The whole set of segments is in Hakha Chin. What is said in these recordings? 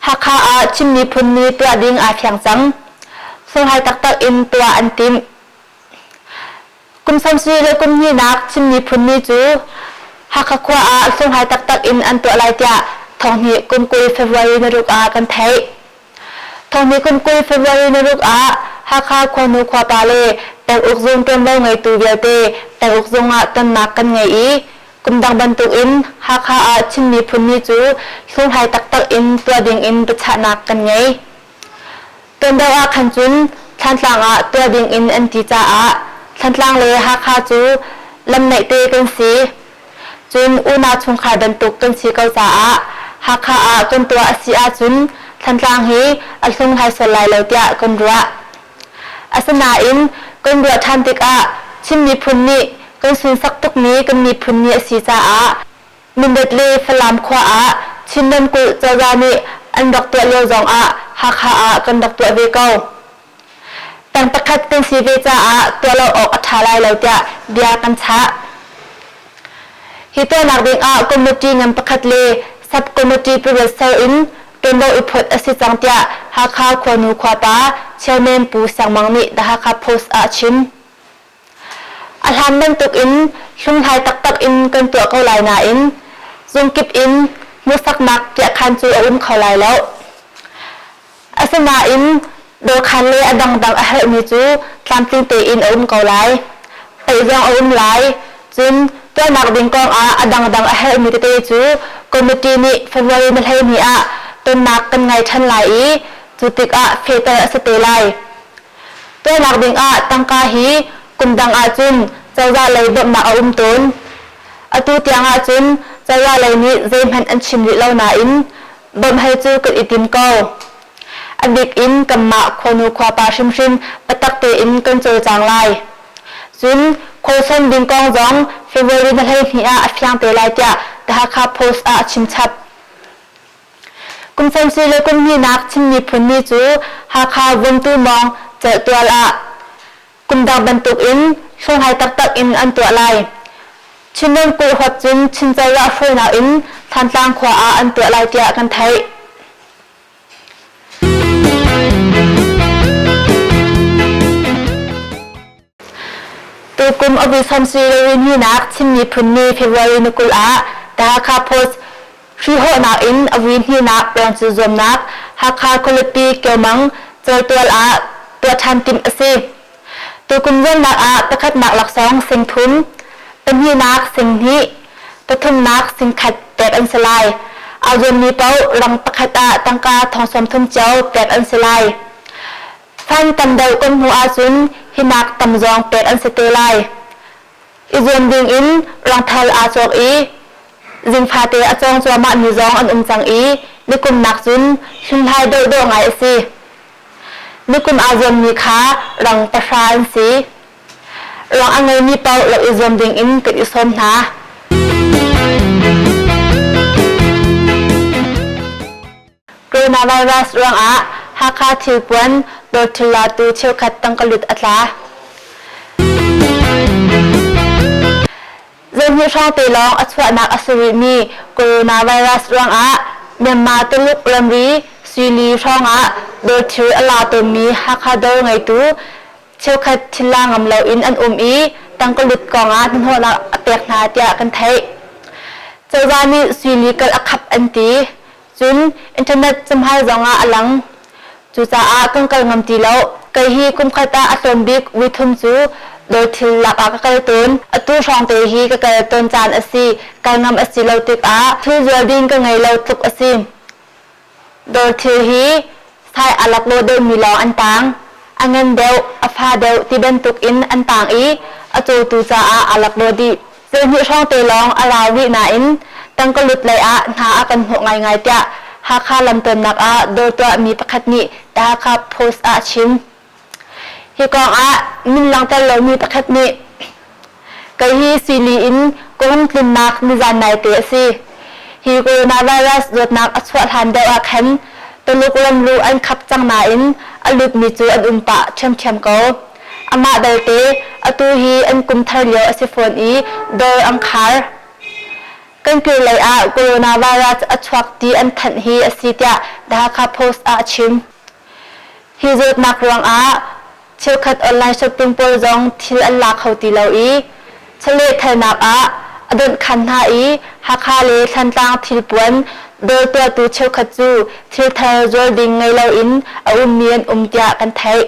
Hakha ah Chin Miphun Ni tuah ding aa fiang cang. Sunghlai taktak in tuah an timh. Kum sawm sui le kum hninak Chin Miphun Ni cu Hakha khua ah sunghlai taktak in an tuah lai tiah thonghni kum kul February na ruk ah kan theih. Thonghni kum kul February na ruk ah Hakha khuanu khuapa le peng uk zung ṭuanvo ngeitu vialte peng uk zung ah tonnak kan ngei i Kum dang bantuk in Hakha ah Chin Miphun Ni cu hlunghlai taktak in tuah ding in biachahnak kan ngei. Tuandau ah khan cun Thlantlang ah tuah ding in an ti caah Thlantlang le Hakha cu lam naih te kan si. Cun unau chungkhar bantuk kan si ko caah Hakha ah kan tuah a si ahcun Thlantlang hi a hlunghlai sual lai lo tiah kan ruah. Asinain kan ruah ṭhan tikah Chin miphun nih kan sunsak tukmi kan miphun ni a si caah Mindat le Falam khua ah Chin ramkulh cozah nih an rak tuah lio zongah Hakha ah kan rak tuah ve ko. Tang pakhat kan si ve caah tuah lo awk a ṭha lai lo tiah bia kan chah. Hi tuahnak dingah committee ngan pakhat le sub-committee pariat ser in ṭuanvo i phawt a si cang tiah Hakha khuanu khuapa Chairman Pu Sang Mang nih The Hakha Post ah a chim. A hlan bantuk in hlunghlai taktak in kan tuah ko lai nain zungkip in hmuhsaknak piahkhan cu a um kho lai lo. Asinain dawhkhan le a dangdang a herhmi cu tlamtling tein a um ko lai. Theih zong a um lai. Cun tuahnak ding kongah a dangdang a herhmi tete cu committee nih February ni hleihnih ah tonnak kan ngei ṭhan lai i cu tikah fehter a si te lai. Tuahnak dingah tangka hi kum dang ahcun cozah lei bawmhnak a um tawn. Atu tiang ahcun cozah lei nih zeihmanh an chim rih lo nain Bawmhei cu kan i tim ko. A bik in kanmah khuanu khuapa hrimhrim biatak tein kan cawlcang lai. Cun khualsan ding kong zong February ni hleihnih ah a fiang te lai tiah The Hakha Post ah a chimchap. Kum fansi le kum hnihnak Chin miphun ni cu Hakha Vuntu Mawng celhtual ah Kumdang bantukin hringhai taktak in an tuah lai. Chinrawn kulhawt cun Chin cozah hruainak in Thantlang khua ah an tuah lai tiah kan theih. Tukum August Hamsi Rewin hinak Chin miphun ni February ni kul ah The Hakha Post Hruhawhnak in a vui hnihnak peng cu zuamnak Hakha khualipi Kyomang cawltual ah tuah ṭhan timh a si. Tukum zuamnak ah pakhatnak laksawng sing thum, pahnihnak sing hnih, pathumnak sing khat pek an si lai. Aa zuammi paoh rang pakhat ah tangka thong sawm thum cio pek an si lai. Fan tam deuh kan hmuh ahcun hinak tam zong pek an si te lai. i zuam dingin rangthal aa cawk i zingfate a cawng cuahmah mi zong an um cang i nikumnak cun hlunhlai deuhdawh ngai a si. Nikum aa zuammi kha rang pahra an si. Rang a ngeimi paoh rak i zuam dingin kan i sawm hna. Coronavirus ruangah Hakha thilpuan tortilla tu cheukhat tangka lut a tla. Zeihnih hrawngte lawng a chuahnak a si rihmi coronavirus ruangah Myanmar Tuluk ramri Suili hrawngah dorthil a la tawnmi Hakha dawr ngeitu cheukhat thilla ngam loin an um i tangka lut kongah hnahnawhnak a pek hna tiah kan theih. Cozah nih Suili kal a khap an ti. Cun internet cahmai zong ah a lang. Cucaah kan kal ngam ti lo. Kei hi kumkhat ah a tlawm bik vuithum cu dawr thil lak ah ka kal tawn. Atu hrawng te hi ka kal tawn caan a si. Kal ngam a si lo tikah thil zual ding ka ngei lo tluk a si. Dawr thil hi Thai a laklaw deuhmi lawng an taang. A ngan deuh, a fa deuh ti bantuk in an taang i a cawtu caah aa laklaw dih. Tlawhnih hrawng te lawng a rau rih nain tangkalut lei ah hna a kan hnawh ngaingai tiah Hakha lamtawnnak ah dawr tuahmi pakhat nih The Hakha Post ah a chim. Hi kongah min langhter lomi pakhat nih Kei hi sili in ka hung tlinnak nizan naite a si. Hi coronavirus zawtnak a chuah hlan deuh ah khan Tuluk ramru an khap cang nain a lutmi cu an um pah ṭhiamṭhiam ko. Amah belte atu hi an kum thar lio a si fawn i dawr an khar. Kan kir lei ah coronavirus a chuak ti an thanh hi a si tiah The Hakha Post ah a chim. Hi zawtnak ruangah cheukhat online shopping pawl zong thil an la kho ti lo i chawlehthalnak ah a donhkhan hna i Hakha le Thlantlang thilpuan dawr tuahtu cheukhat cu thilthar zuar ding ngei loin a ummi an um tiah kan theih.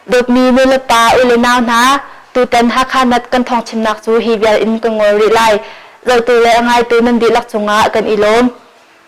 Dawtmi nu le pa, u le nau hna, tutan Hakha Nat kan thawngchimnak cu hi vial in ka ngol rih lai. Zotu le a ngaitu nan dihlak cungah kan i lawm.